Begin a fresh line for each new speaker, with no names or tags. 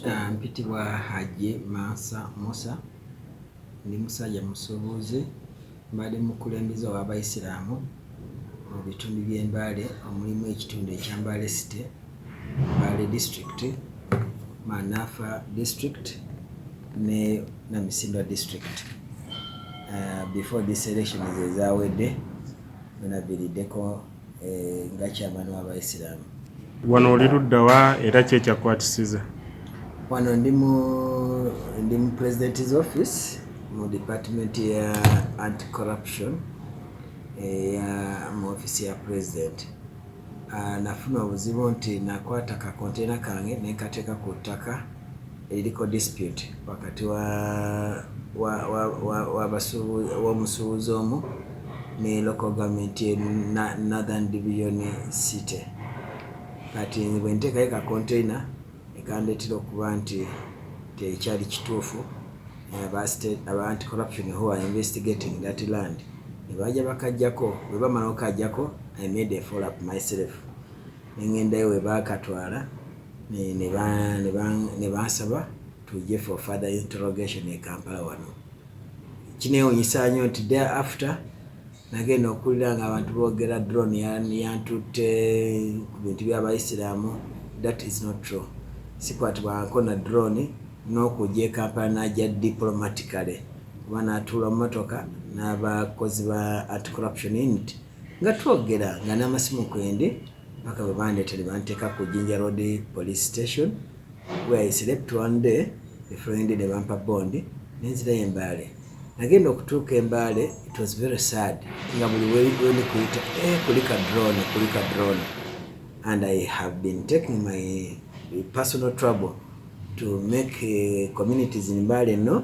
Aah mpitibwa Hajji Mansa Musa ndi musajja musuubuzi mbadde mukulembeze ow'abayisiraamu mu bitundu by'e Mbale omulimu ekitundu ekya Mbale City, Mbale district, Manafa district ne Namisindwa district. Aah before this election ezaawedde bino biriddeko. eh, nga kyamani wabaisiramu wano oli
luddawa era ki ekyakwatisiza wano
ndi mu ndi mu president's office mu department ya anti corruption eya eh, mu office ya president ah, nafuna obuzibu nti nakwata kakontena kange nenkateeka ku ttaka Eliko dispute wakati wa wa wa wa wabasubu womusubuzi omu ne local government ye na northern division city kati nze bwentekayo ka container ekandetera okuba nti tekyali kituufu aba anti corruption who are investigating that land nebaja bakajjako bwebamala okajjako i made a follow up myself nengendayo webakatwala ne bansaba tujje for further interrogation e Kampala wano. Kinewunyisa nyo nti day after nagenda okuwulira nga abantu bogera drone yantutte ku bintu by'abayisiraamu. That is not true. Sikwatibwangako na drone n'okujja e Kampala n'ajja diplomatically kuba n'atuula mu motoka n'abakozi ba anti corruption unit nga twogera nga n'amasimu kwende. Paka bwe bandeeta ne banteeka ku Jinja Road Police Station where I slept one day the following day ne bampa bond ne nzirayo e Mbale. Nagenda okutuuka e Mbale it was very sad nga buli wendi kuyita eh, kulika drone kulika drone and I have been taking my personal trouble to make uh, communities in Mbale no